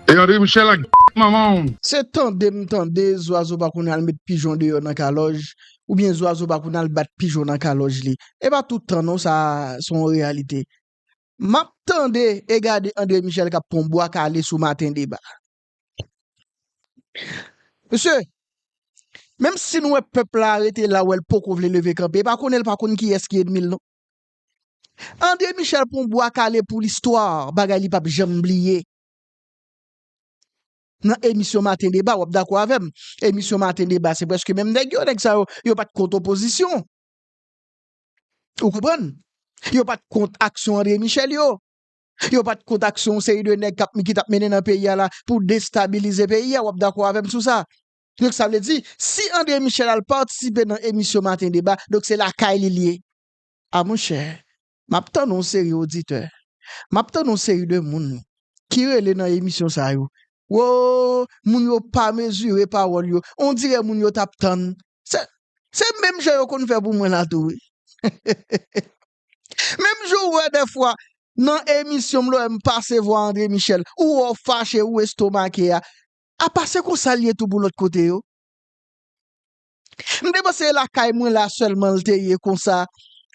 E André Michel ak manman w. Se tande m tande zwazo pa konn al met pijon deyò nan kalòj oubyen zwazo pa konn al bat pijon nan kalòj li. E pa tout tan non sa se yon reyalite. M ap tande e gade André Michel k ap pran bwa kale sou Maten deba. Mesye, menm si n wè pèp la rete la wè l poko vle leve kanpe, e pa konnen l pa konn kiyès ki ènmi l non. André Michel pran bwa kale pou listwa, bagay li p ap janm bliye. Nan emisyon maten deba wap dakò avèm, emisyon maten deba se prèske menm nèg yo, nèg sa yo, yo pat kont opozisyon. Ou konprann? Yo pat kont aksyon André Michel yo. Yo pat kont aksyon yon seri de nèg kap ki tap mennen nan peyi a la pou destabilize peyi a, wap dakò avèm sou sa. Donk sa vle di, si André Michel al patisipe nan emisyon maten deba, donk se lakay li l ye. A monchè, Map tann yon seri oditè Map tann yon seri de moun ki rele nan emisyon sa yo Woo moun yo pa mezire pawòl yo On dirè moun yo tap tann Se menm jan yo konn fè pou mwen la tou wi Hehehehe Menm jan ou wè dèfwa nan emisyon m lè m pase vwa Andre Michel ou wè w fache ou estomake a Apa se konsa l ye tou pou lòt kote yo M te panse e lakay mwen la sèlman l te ye konsa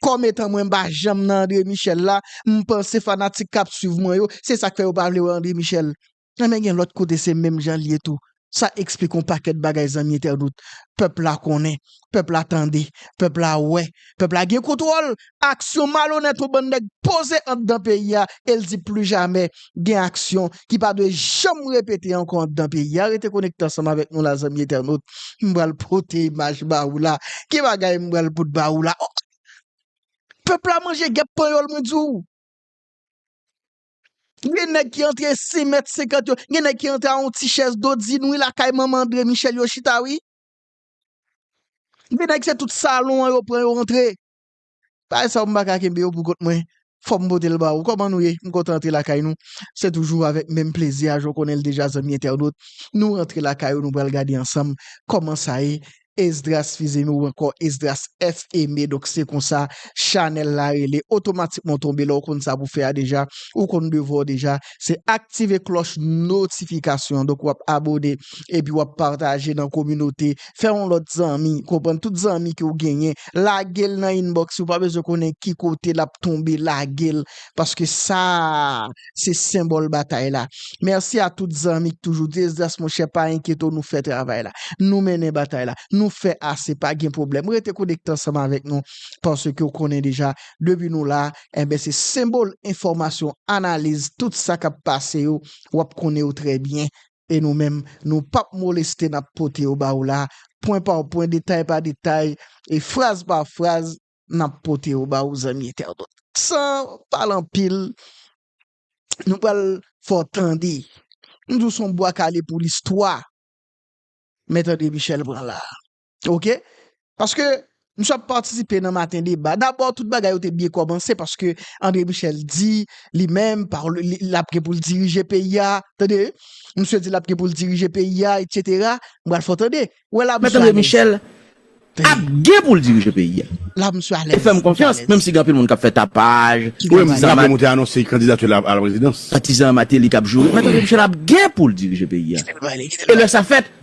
kòm etan mwen m pa janm nan André Michel la m panse fanatik k ap swiv mwen yo se sa k fè yo pa vle wè André Michel enben gen lòt kote se menm jan l ye tou sa eksplike yon pakèt bagay zanmi entènot pèp la konnen pèp la tande pèp la wè pèp la gen kontwòl aksyon malonèt yon bann nèg poze anndan peyi a e l di plu jamè gen aksyon ki pa dwe janm repete ankò anndan peyi a. Rete konekte ansanm avèk nou la zanmi entènot. M pral pote imaj ba ou la. Ki bagay m pral pot ba ou la? Ohh! Pèp la manje gèp panyòl mwen di w. Gen nèg ki antre sen mèt senkant yo, gen nèg ki antre a yon ti chèz dodin wi lakay manman Andre Michel yo chita wi. Gen nèg se tout salon an yo pran yo antre. Bagay sa yo m pa ka kenbe yo pou kont mwen, fòk m pote l ba ou. Kòman nou ye? M kontan antre lakay nou. Se toujou avèk menm plezi a, jan w konnen l deja zanmi entènot. Nou rantre lakay yo, nou pral gade ansanm kòman sa ye. Esdras Fils-Aimé ou ankò Esdras F. Aimé, donk se konsa chanèl la rele. Otomatikman w tonbe la, ou konn sa pou fè a deja, ou konn devwa w deja. Se aktive klòch notifikasyon an, donk w ap abone epi w ap pataje nan kominote fè yon lòt zanmi, konprann tout zanmi ke ou genyen, lage l nan inbox yo, ou pa bezwen konnen ki kote l ap tonbe, lage l, paske sa a, se senbòl batay la. Mèsi a tout zanmi k toujou di Esdras monchè pa enkyete w nou fè travay la, nou mennen batay la, nou fè ase pa gen pwoblèm, rete konekte ansanm avèk nou, paske ou konnen deja depi nou la, enben se senbòl enfòmasyon, analiz tout sa k ap pase yo, w ap konnen yo trè byen, E nou menm, nou p ap moleste n ap pote yo ba ou la, pwen pa pwen, detay pa detay, e fraz pa fraz, n ap pote yo ba ou zanmi entènot. San pale anpil, nou pral fè w tande, m di w s on bwa kale pou listwa, men tande Michel pran la a. Ok paske misye ap patisipe nan maten deba dabò tout bagay yo te byen kòmanse paske André Michel di li menm li ap gen pou l dirije peyi a tande misye di l ap gen pou l dirije peyi a etsetera m pral fè w tande ou wè la misye alèz mèt André Michel ap gen pou l dirije peyi a la misye alèz misye alèz e fè m konfyans menm si gen anpil moun k ap fè tapaj ki gen sa apre moun te anonse kandidati l a la prezidans patizan Martelly k ap joure mèt André Michel ap gen pou l dirije peyi a e lè sa fèt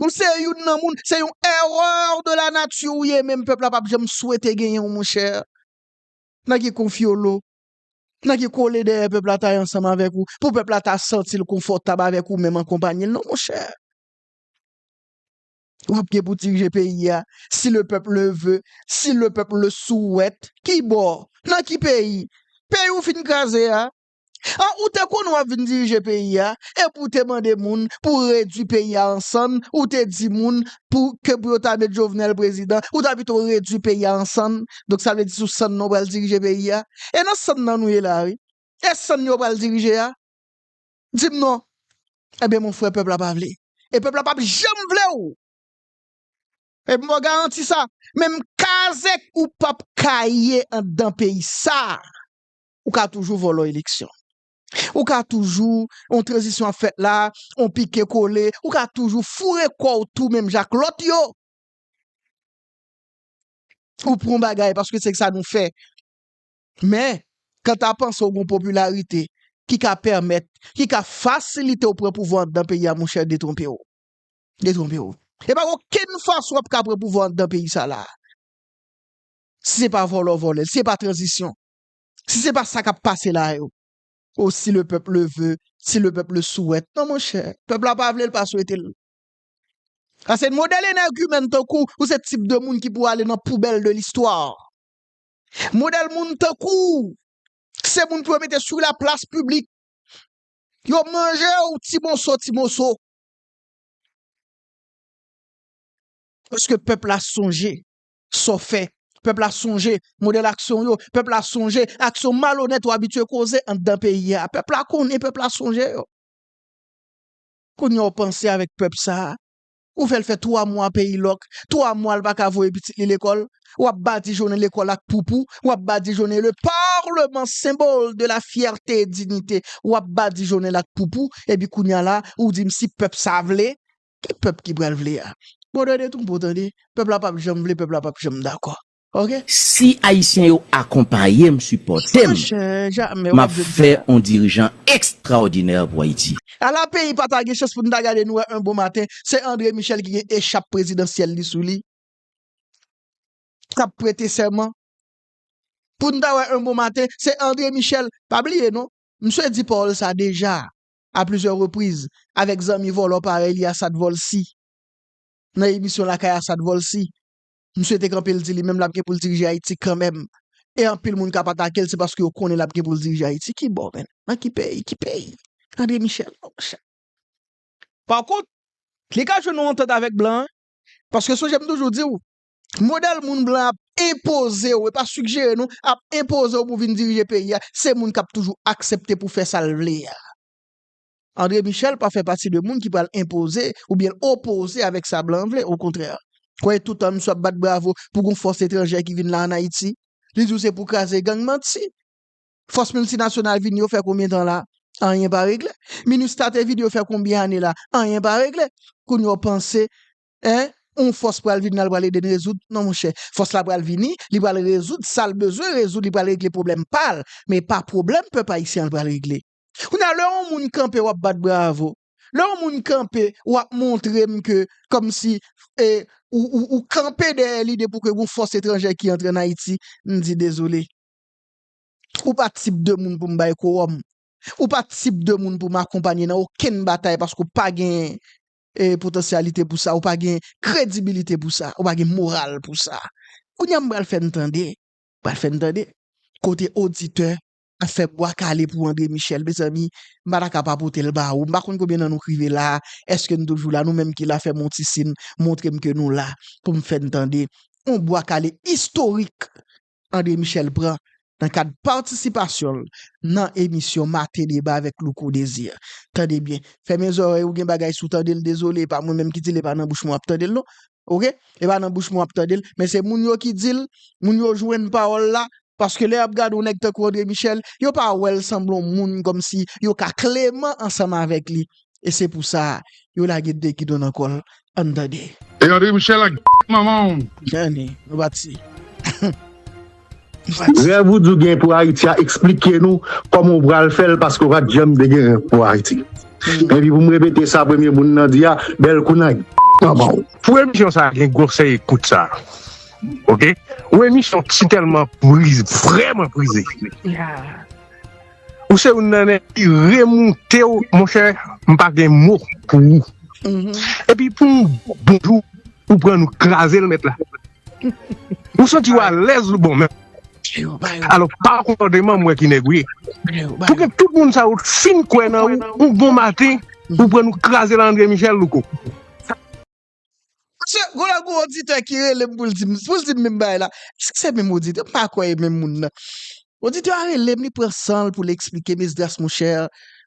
Ou se youn nan moun, se yon erreur de la nature ou ye men pèp la pap janm swete genyen w monchè. Nan ki konfyolo, nan ki kole dèyè pèp la ta ye ansanm avèk ou, pou pèp la ta santi l konfòtab avèk ou menm an konpayi l non monchè. Wap gen pou dirije peyi a, si le pèp le ve, si le pèp le souwèt, ki bò, nan ki peyi? Peyi ou fin kraze a, An ou te konnen wap vin dirije peyi a epi ou te mande moun pou redwi peyi a an sann ou te di moun pou ke pou yo ta met Jovenel prezidan ou ta pito redwi peyi a an sann donk sa vle di sou sann nan ou pral dirije peyi a e nan sann nan nou ye la wi e sann yo pral dirije a di m non ebyen mon frè pèp la pa vle e pèp la pap janm vle w epi m ba w garanti sa menm kazèk ou pap ka ye andan peyi sa. Ou ka toujou vòlò eleksyon. Ou ka toujou, yon tranzisyon ap fèt la, yon pike kole, ou ka toujou foure kò w tou menm jan ak lòt yo. Ou pran yon bagay paske se sa nou fè. Men, kanta panse w gen yon popilarite ki ka pèmèt, ki ka fasilite w pran pouvwa anndan peyi a monchè detwonpe w. Detwonpe w. E pa gen okenn fason w ap ka pran pouvwa anndan peyi sa la. Si se pa vòlò vòlè, si se pa tranzisyon. Si se pa sa kap pase la yo. Oh si le peuple le veut, si le peuple le souhaite non monchè, pèp la pa vle l pa swete l. Sa se modèl enègimèntan kou ou se tip de moun ki pou ale nan poubèl de listwa. Modèl moun tankou w se moun pou yo mete sou la plas piblik. Yo manje w ti moso ti moso. Eske pèp la sonje sa w fè. Pèp la sonje modèl aksyon w yo. Pèp la sonje aksyon malonèt ou abitye koze anndan peyi a. Pèp la konnen, pèp la sonje yo. Kounye a w panse avèk pèp sa a. Ou fè l fè twa mwa peyi lòk, twa mwa l pa ka voye pitit li lekòl. W ap badijonnen lekòl ak poupou. W ap badijonnen le parlement symbole de la fierte et dignite. W ap badijonnen l ak poupou. Epi kounye a la, ou di m si pèp sa a vle. Ki pèp ki pral vle a? Bòdè de twonpo tande, pèp la pap janm vle, pèp la pap janm dakò ok. Si ayisyen yo akonpayem sipòtem map fè on dirijan extraordinaire pou ayiti. A la peyi pa ta gen chans pou n ta gade nou wè un bon maten se André Michel ki gen echap prezidansyèl li sou li k ap prete sèman pou n ta wè un bon maten se André Michel pa bliye non msye di pawòl sa deja a plizyè repriz avèk zanmi vòlò parèy li Assad Volcy. Nan emisyon Lakay Assad Volcy, msye te kanpe l di li menm l ap gen pou l dirije Ayiti kanmenm e anpil moun k ap atake l se paske yo konnen l ap gen pou l dirije Ayiti. Ki bò menm? Nan ki peyi? Ki peyi? Andre Michel non monchè. Pakont, li ka jwenn yon antant avèk blan an paske sonje m toujou di w, modèl moun blan ap enpoze w, e pa sigjere non, ap enpoze w pou vin dirije peyi a, se moun k ap toujou aksepte pou fè sa l vle a. Andre Michèl pa fè pati de moun ki pral enpoze oubyen opoze avèk sa blan vle, okontrè. Kwè toutan misye ap bat bravo pou gon fòs etranjè ki vin la an Ayiti, li di w se pou kraze gang, manti! Fòs miltinasyonal vini yo fè konbyen tan la? Anyen pa regle. Minustah te vini yo fè konbyen ane la? Anyen pa regle. Kounye a w panse en yon fòs pral vin la li pral ede n rezoud non monchè fòs la pral vini li pral rezoud sa l bezwen rezoud li pral regle pwoblèm pa l men e pa pwoblèm pèp ayisyen an l pral regle kounye a lè yon moun kanpe w ap bat bravo lè yon moun kanpe w ap montre m ke kòmsi e ou ou ou kanpe dèyè lide pou ke yon fòs etranjè ki antre ann Ayiti m di dezole ou pa tip de moun pou m bay kowòm ou pa tip de moun pou m akonpanye nan okenn batay paske w pa gen potansyalite pou sa, ou pa gen kredibilite pou sa, ou pa gen moral pou sa. Kounye a m pral fè n tande, m pral fè n tande, kote oditè ap fè bwa kale pou André Michel, mezanmi, m pa ta ka pa pote l ba ou. M pa konn konbyen nan nou k rive la a, èske n toujou la, nou menm ki la fè m yon ti sin, montre m ke nou la, pou m fè n tande yon bwa kale istorik André Michel pran nan kad patisipasyon l nan emisyon Maten Deba avèk Louko Desir. Tande byen, fèmen zòrèy ou gen bagay si w tande l dezole e pa mwen menm ki di l e pa nan bouch mwen w ap tande l non ok e pa nan bouch mwen w ap tande l men se moun yo ki di l moun yo jwenn pawòl la paske lè y ap gade yon nèg tankou André Michel yo pa wè l sanble yon moun kòmsi yo ka kleman ansanm avèk li e se pou sa yo lage 2 gidon nan kòl ann tande. E André Michel ak manmanw. Anne nou pati. Rèv ou di w gen pou Ayiti a eksplike nou kòman w pral fè l paske w pa t janm te gen rèv pou Ayiti. Epi pou m repete sa premye moun nan di a, bèl kou nan manman w. Pou emisyon sa gen gwosè ekout sa ok yon emisyon si tèlman prize vrèman prize. Ou se youn nan nèg ki remoute w monchè m pa gen mo pou ou epi pou yon bon jou ou pran nou kraze l nèt la ou santi w alèz ou bon menm alò pa konpòteman m wè ki nèg ou ye pou gen tout moun sa yo t fin kwè nan ou yon bon maten ou pran nou kraze l André Michel louco. Paske gwo lè gwo oditè ki rele m pou l di m pou l di m menm bagay la. Èske se menm oditè? M pa kwè e menm moun nan. Oditè a rele m, li pran san l pou l esplike m, Esdras monchè,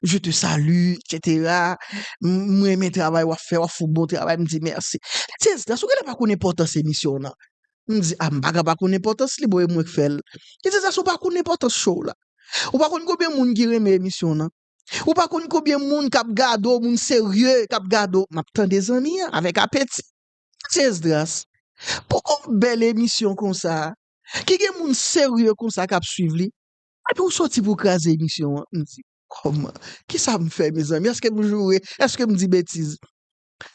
je te salue, et cetera, m renmen travay w ap fè, w ap fè yon bon travay, m di mèsi. Li di, Esdras, ou genlè pa konn enpòtans emisyon w nan. M di, a m pa ka pa konn enpòtans li, bon e mwen k fè l. Li di, Esdras, ou pa konn enpòtans show w la. Ou pa konn konbyen moun ki renmen emisyon w nan. Ou pa konn konbyen moun kap gade w moun serye kap gade w map tande zanmi an avèk apeti Mesye Esdras pou yon bèl emisyon konsa ki gen moun serye konsa kap swiv li epi ou soti pou w kraze emisyon an m di kòman kisa m fè mezanmi èske m joure èske m di betiz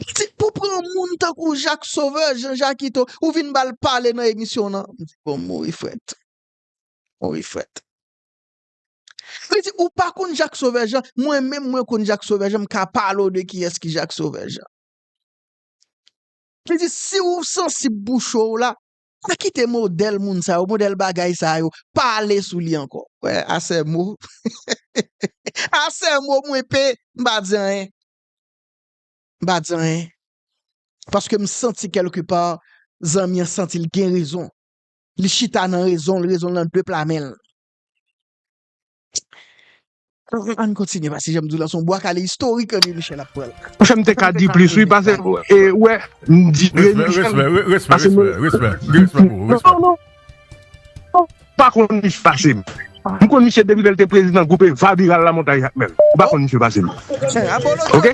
li di pou pran yon moun tankou Jak Sovè Jan Jakito ou vin bal pale nan emisyon w lan m di bon m mouri frèt m mouri frèt. Li di ou pa konn Jacques Sauveur Jean, mwen menm mwen konn Jacques Sauveur Jean, m ka pale w de kiyès ki Jacques Sauveur Jean. Li di si ou sansib pou cho w la, pa kite modèl moun sa yo, modèl bagay sa yo, pale sou li ankò. Wè asè mo, asè mo mwen pe, m pa di anyen. M pa di anyen. Paske m santi kèlke pa, zanmi an santi l gen rezon. Li chita nan rezon l, rezon l nan 2 pla men l. Ann kontinye pase janm diw la son bwa kale istorik Remy Michel ap pran la. Fèm te ka di plis wi pase e wè m di Remy Michel pase m non non m pa konn misye pase m m konn misye depi lè l te prezidan gwoup Eva Biral la montagne ak mèl m pa konn misye pase m ok.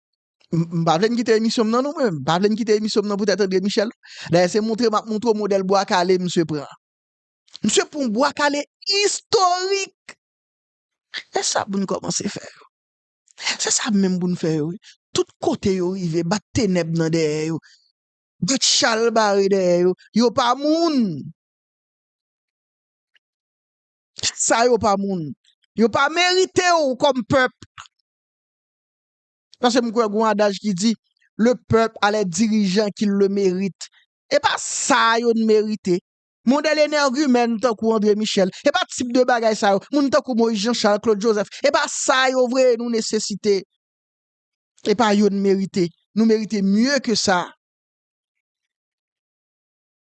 M pa vle n kite emisyon m nan non mwen, m pa vle n kite emisyon m nan poutèt André Michel. Dayè se montre m ap montre w modèl bwa kale misye pran an. Misye pran yon bwa kale istorik! Se sa pou n kòmanse fè yo. Se sa menm pou n fè yo wi. Tout kote yo rive, bat tenèb nan dèyè yo, bat chal bare dèyè yo. Yo pa moun! Sa yo pa moun. Yo pa merite w kòm pèp. Paske m kwè gon adaj ki di, Le pèp a lè dirijan ki l le merit. E pa sa a yo n merite. Mon dè lenèrgimèn tankou Andre Michèl. E pa tip de bagay sa yo. Moun tankou Moyiz Janchal, Klod Jozèf. E pa sa a yo vre nou nesesite. E pa yo n merite. Nou merite mye ke sa.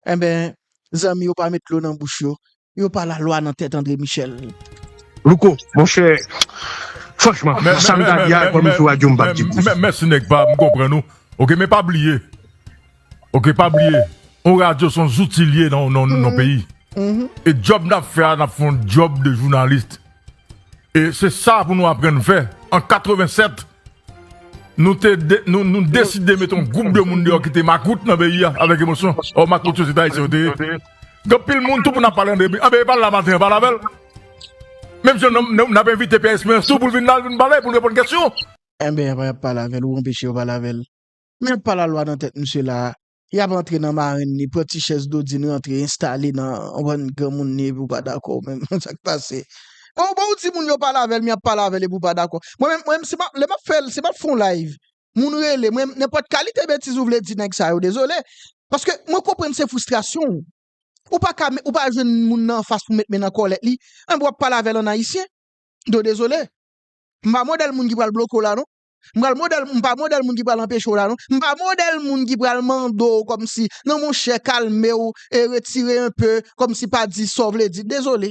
Enben, zanmi yo pa met dlo nan bouch yo, yo pa lalwa nan tèt Andre Michel. Louko monchè franchman sam ta di a epa nou sou radyo m pap di plis. Mèsi nèg pa m konprann ou ok men pa bliye ok pa bliye yon radyo son zouti li ye nan yon peyi e djòb nap fè a nap fè yon djòb de jounalist. E se sa pou nou aprann fè. An 87, nou te nou deside mete yon gwoup de moun deyò ki te makout nan peyi a avèk emosyon. Ò makout yo se te Ayisyen yo te ye. Gen pil moun tou pou n ap pale de. Anben e pa l la maten an, pa l avè l. Menm jan n ap envite Pyè Esperyans tou pou l vin la, l vin pale, pou l reponn kesyon. Anben y ap pale avè l ou anpeche yo pale avè l. Men pa lalwa nan tèt misye la a. Y ap antre nan marenn li, pran ti chèz Dodin rantre enstale nan bann granmoun li epi w pa dakò menm sa k pase. Bon bon w di moun yo pale avè l men y ap pale avè l epi w pa dakò. Mwen menm mwen menm si m ap lè m ap fè l si m ap fè yon live moun rele mwen menm nenpòt kalite betiz ou vle di nèg sa yo dezole paske mwen konprann se fristrasyon w. Ou pa ka ou pa jwenn moun nan anfas pou met men nan kòlèt li enben w ap pale avè l ann ayisyen. Don dezole. M pa modèl moun ki pral bloke w la non. M pral modèl moun, m pa modèl moun ki pral anpeche w la non, m pa modèl moun ki pral mande w kòmsi non monchè kalme w e retire un peu kòmsi pa di sa w vle di, dezole.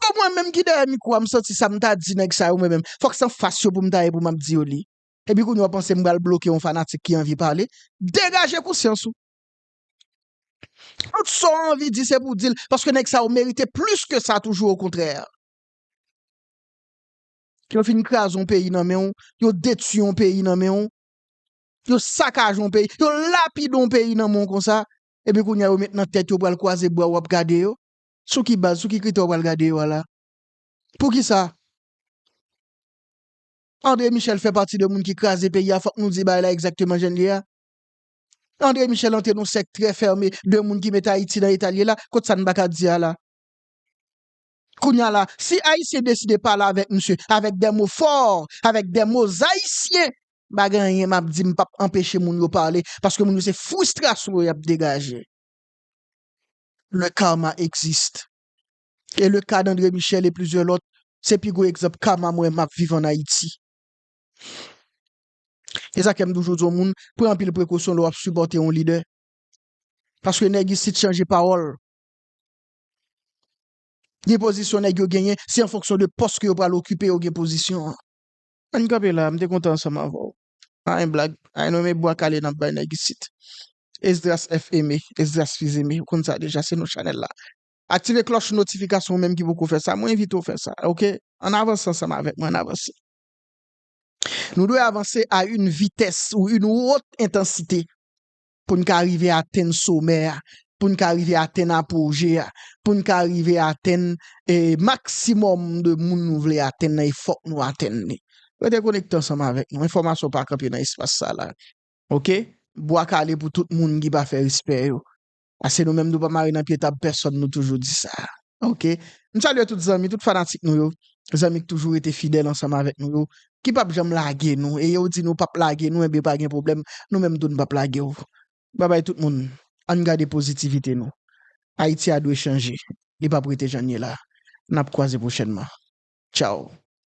Bon mwen menm ki dèyè mikwo a m santi sa m ta di nèg sa yo mwen menm fòk s anfas yo pou m ta ye pou m ap di yo li. Epi kounye a w panse m pral bloke yon fanatik ki anvi pale, degaje konsyans ou. Tout sa w anvi di se pou w di l paske nèg sa yo merite plis ke sa toujou okontrè. Yo fin kraze yon peyi nan men w, yo detui yon peyi nan men w, yo sakaje yon peyi, yo lapide yon peyi nan men w konsa, epi kounye a yo met nan tèt yo pral kwaze bra ou ap gade yo? Sou ki baz, sou ki kritè ou pral gade yo a la? Poukisa André Michel fè pati de moun ki kraze peyi a, fòk nou di bagay la egzakteman jan l ye a? André Michel antre nan yon sèk trè fème de moun ki met Ayiti nan eta l ye la, kot sa n pa ka di a la? Kounya la, si Ayisyen deside pale avèk misye avèk dè mo fò, avèk dè mo Zayisyen, pa gen anyen m ap di, m p ap anpeche moun yo pale, paske moun yo se fristrasyon yo y ap degaje. Le karma existe. E le ka d'André Michel e plizyè lòt, se pi gwo egzanp karma m wè m ap viv an Ayiti. E sa k fè m toujou di yon moun, pran anpil prekosyon lè w ap sipòte yon lidè. Paske nèg isit chanje pawòl. Gen pozisyon nèg yo genyen, se an fonksyon de pòs ke yo pral okipe yo gen pozisyon an. Ann kanpe la a, m te kontan ansanm avè w. Pa gen blag, ay non men bwa kale n ap bay nèg isit. Esdras F. Aimé, Esdras Fils Aimé, ou konn sa deja, se non chanèl la. Aktive klòch notifikasyon ou menm ki poko fè sa, mwen envite w fè sa, ok. Ann avanse ansanm avèk mwen, ann avanse. Nou dwe avanse a yn vitès ou yn wot entansite. pou n ka rive atenn somè a, pou n ka rive atenn apoje a, pou n ka rive atenn maksimòm de moun nou vle atenn nan e fòk nou atenn li. Rete konekte ansanm avèk nou, enfòmasyon pa kanpe nan espas sa la ok. Bwa kale pou tout moun ki pa fè respè yo, pase nou menm nou pa mare nan pye tab pèsòn nou toujou di sa. Ok M salye tout zanmi, tout fanatik nou yo Zanmi k toujou rete fidèl ansanm avèk nou yo Ki pap janm lage nou E yo di nou pap lage nou Enben pa gen pwoblèm Nou menm tou n pap lage w Babay tout moun Ann gade pozitivite nou Ayiti a dwe chanje Li pap rete jan l ye la N ap kwaze pwochènman Tchaw